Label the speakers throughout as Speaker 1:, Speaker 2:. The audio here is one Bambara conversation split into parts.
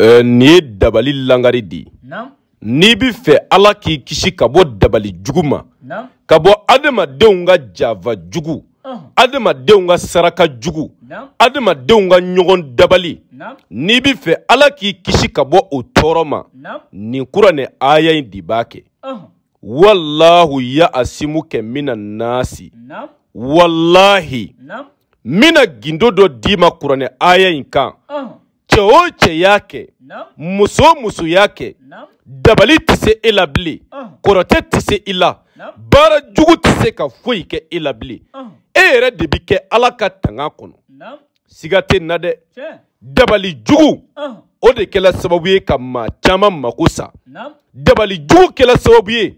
Speaker 1: Eh, nin ye dabali langari de ye n'i bɛ fɛ ala k'i kisi ka bɔ dabali jugu ma ka bɔ adamadenw ka janfa jugu adamadenw ka saraka jugu adamadenw ka ɲɔgɔn dabali n'i bɛ fɛ ala k'i kisi ka bɔ o tɔɔrɔ ma nin kuranɛ aya in de b'a kɛ walahu ya asimuka mina nasi walahi n bɛna gindo dɔ d'i ma kuranɛ aya in kan cɛ o cɛ y'a kɛ muso o muso y'a kɛ dabali tɛ se e la bilen kɔrɔtɛ tɛ se i la baara jugu tɛ se ka foyi kɛ e la bilen e yɛrɛ de bɛ kɛ ala ka tanga kɔnɔ siga tɛ na dɛ dabali jugu o de kɛla sababu ye ka maa caman mako sa dabali jugu kɛla sababu ye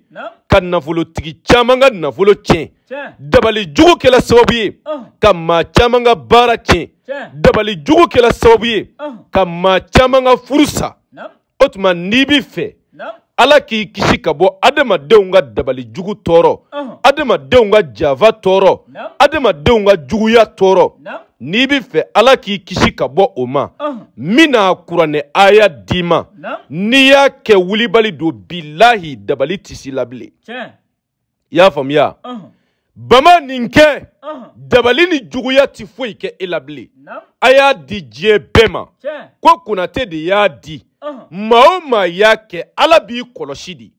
Speaker 1: ka nafolotigi caman ka nafolo tiɲɛ dabali jugu kɛla sababu ye ka maa caman ka baara tiɲɛ dabali jugu kɛla sababu ye ka maa caman ka furu sa o tuma n'i bɛ fɛ ala k'i kisi ka bɔ adamadenw ka dabali jugu tɔɔrɔ adamadenw ka janfa tɔɔrɔ adamadenw ka juguya tɔɔrɔ n'i bɛ fɛ ala k'i kisi ka bɔ o ma n bɛna kuranɛ aya d'i ma n'i y'a kɛ wulibali don bilahi dabali tɛ s'i la bilen i y'a faamuya bama nin kɛ dabali ni juguya tɛ foyi kɛ e la bilen a y'a di diɲɛ bɛɛ ma ko konate de y'a di maa o maa y'a kɛ ala b'i kɔlɔsi dɛ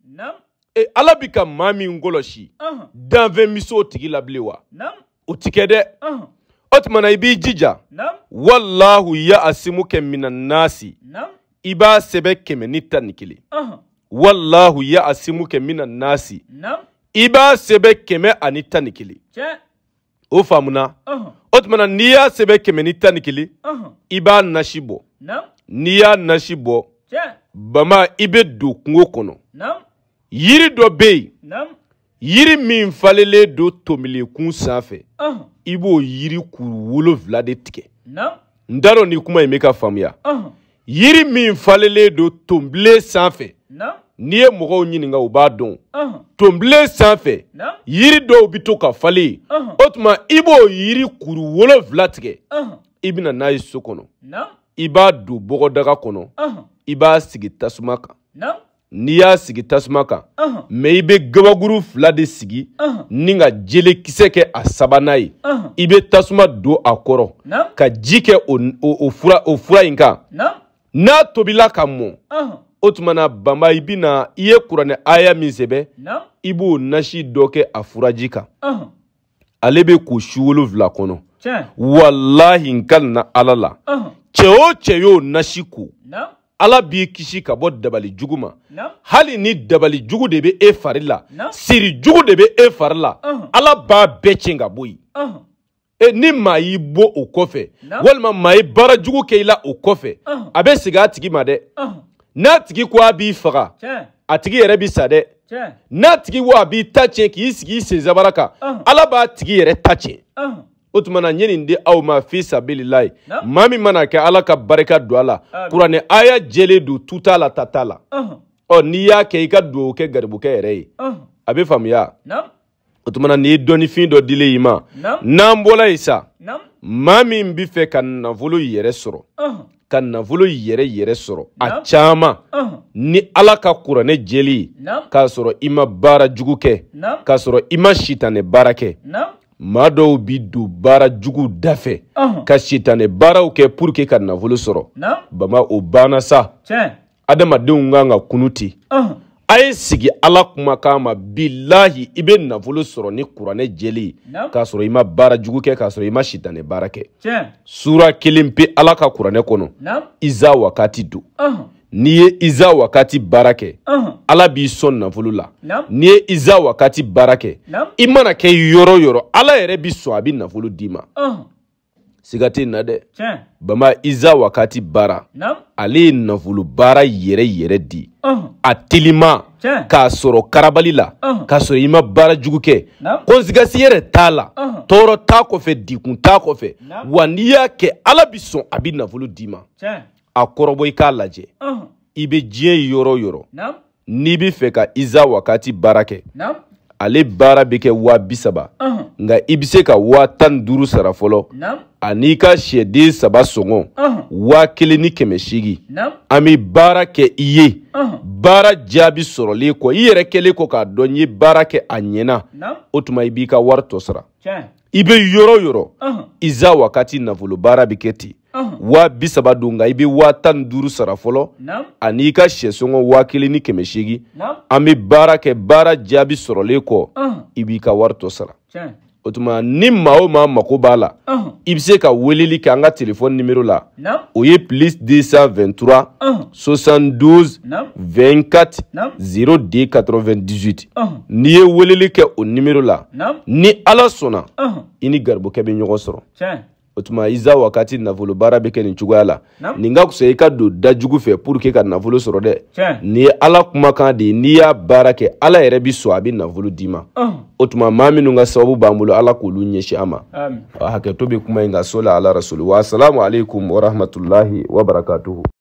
Speaker 1: ala bɛ ka maa min kɔlɔsi danfɛn bɛ se o tigi la bilen wa o ti kɛ dɛ o tuma na i b'i jija walahu ya asimuka mina nasi i b'a sɛbɛn kɛmɛ ni tan ni kelen walahu ya asimuka mina nasi i b'a sɛbɛn kɛmɛ ani tan ni kelen o faamuna o tuma na n'i y'a sɛbɛn kɛmɛ ni tan ni kelen i b'a nasi bɔ n'i y'a nasi bɔ bama i bɛ don kungo kɔnɔ yiri dɔ bɛ yen yiri min falelen don tonbilen kun sanfɛ i b'o yiri kuru wolonfila de tigɛ n t'a dɔn ni kuma in bɛ ka faamuya yiri min falelen don tonbilen sanfɛ n'i ye mɔgɔw ɲininka u b'a dɔn tonbilen sanfɛ yiri dɔw bɛ to ka falen o tuma i b'o yiri kuru wolonfila tigɛ i bɛ na n'a ye so kɔnɔ i b'a don bɔgɔdaga kɔnɔ i b'a sigi tasuma kan n'i y'a sigi tasuma kan mɛ i bɛ gabakuru fila de sigi ni ka jelekisɛ kɛ a sabanan ye i bɛ tasuma don a kɔrɔ ka ji kɛ o fura in kan n'a tobila ka mɔ o tuma na banba i bɛna i ye kuranɛ aya min sɛbɛn i b'o nasi dɔ kɛ a furaji kan ale bɛ ko su wolonwula kɔnɔ walahi n kalina ala la cɛ o cɛ y'o nasi ko ala b'i kisi ka bɔ dabali jugu ma hali ni dabali jugu de bɛ e fari la siri jugu de bɛ e fari la ala b'a bɛɛ tiɲɛ ka bɔ yen ni maa y'i bon o kɔfɛ walima maa ye baara jugu kɛ i la o kɔfɛ a bɛ segin a tigi ma dɛ n'a tigi ko a b'i faga a tigi yɛrɛ bi sa dɛ n'a tigi ko a b'i ta tiɲɛ k'i sigi i senzabara kan ala b'a tigi yɛrɛ ta tiɲɛ o tuma na n ye nin di aw ma fi sabililayi maa min man'a kɛ ala ka barika don a la kuranɛ aya jɛlen don tu t'a la ta t'a la ɔ n'i y'a kɛ i ka dugawu kɛ garibukɛ yɛrɛ ye a bɛ faamuya o tuma na nin ye dɔnnifin dɔ dilen i ma n'an bɔla yen sa maa min bɛ fɛ ka nafolo yɛrɛ sɔrɔ ka nafolo yɛrɛ yɛrɛ sɔrɔ a caman ni ala ka kuranɛ jɛlen ye k'a sɔrɔ i ma baara jugu kɛ k'a sɔrɔ i ma sitanɛ baara kɛ maa dɔw bi don baara jugu da fɛ ka sitanɛ baaraw kɛ pour que ka nafolo sɔrɔ baba o banna sa adamadenw kan ka kunun ten a ye segin ala kumakan ma bilahi i bɛ nafolo sɔrɔ ni kuranɛ jɛlen ye k'a sɔrɔ i ma baara jugu kɛ k'a sɔrɔ i ma sitanɛ baara kɛ sura kelen pe ala ka kuranɛ kɔnɔ iza wakati don n'i ye iza wakati baara kɛ ala b'i sɔn nafolo la n'i ye iza wakati baara kɛ i mana kɛ yɔrɔ yɔrɔ ala yɛrɛ b'i sɔn a bɛ nafolo d'i ma siga tɛ na dɛ baba iza wakati baara ale ye nafolo baara yɛrɛ yɛrɛ di a telima k'a sɔrɔ karabali la k'a sɔrɔ i ma baara jugu kɛ conséquence yɛrɛ t'a la tɔɔrɔ t'a kɔfɛ degun t'a kɔfɛ wa n'i y'a kɛ ala b'i sɔn a bi nafolo d'i ma a kɔrɔbɔ i k'a lajɛ i bɛ diɲɛ yɔrɔ yɔrɔ n'i bɛ fɛ ka iza wakati baara kɛ ale baara bɛ kɛ waa bi saba nka i bɛ se ka waa tan ni duuru sara fɔlɔ an'i ka sɛden saba sɔngɔ waa kelen ni kɛmɛ seegin an bɛ baara kɛ i ye baara jaabi sɔrɔlen kɔ i yɛrɛ kɛlen kɔ k'a dɔn n ye baara kɛ a ɲɛna o tuma i b'i ka wari tɔ sara i bɛ yɔrɔ yɔrɔ iza wakati nafolo baara bɛ kɛ ten waa bi saba don nka i bɛ waa tan ni duuru sara fɔlɔ ani i ka sɛsɔngɔ waa kelen ni kɛmɛ seegin an bɛ baara kɛ baara jaabi sɔrɔlen kɔ i b'i ka wari tɔ sara o tuma ni maa o maa mago b'a la i bɛ se ka weleli kɛ an ka telefɔni nimero la o ye plus 223 72 24 02 98 n'i ye weleli kɛ o nimero la ni ala sɔnna i ni garibukɛ bɛ ɲɔgɔn sɔrɔ o tuma iza wakati nafolo baara bɛ kɛ nin cogoya la nin ka fisa i ka don dajugu fɛ pour que ka nafolo sɔrɔ dɛ nin ye ala kumakan de ye n'i y'a baara kɛ ala yɛrɛ b'i sɔn a bɛ nafolo d'i ma o tuma maa minnu ka sababu b'an bolo ala k'olu ɲɛsin an ma hakɛto bɛ kuma in kan sɔli ala rasuli wa asalamu aleykum warahmatulahi wabarakatuhu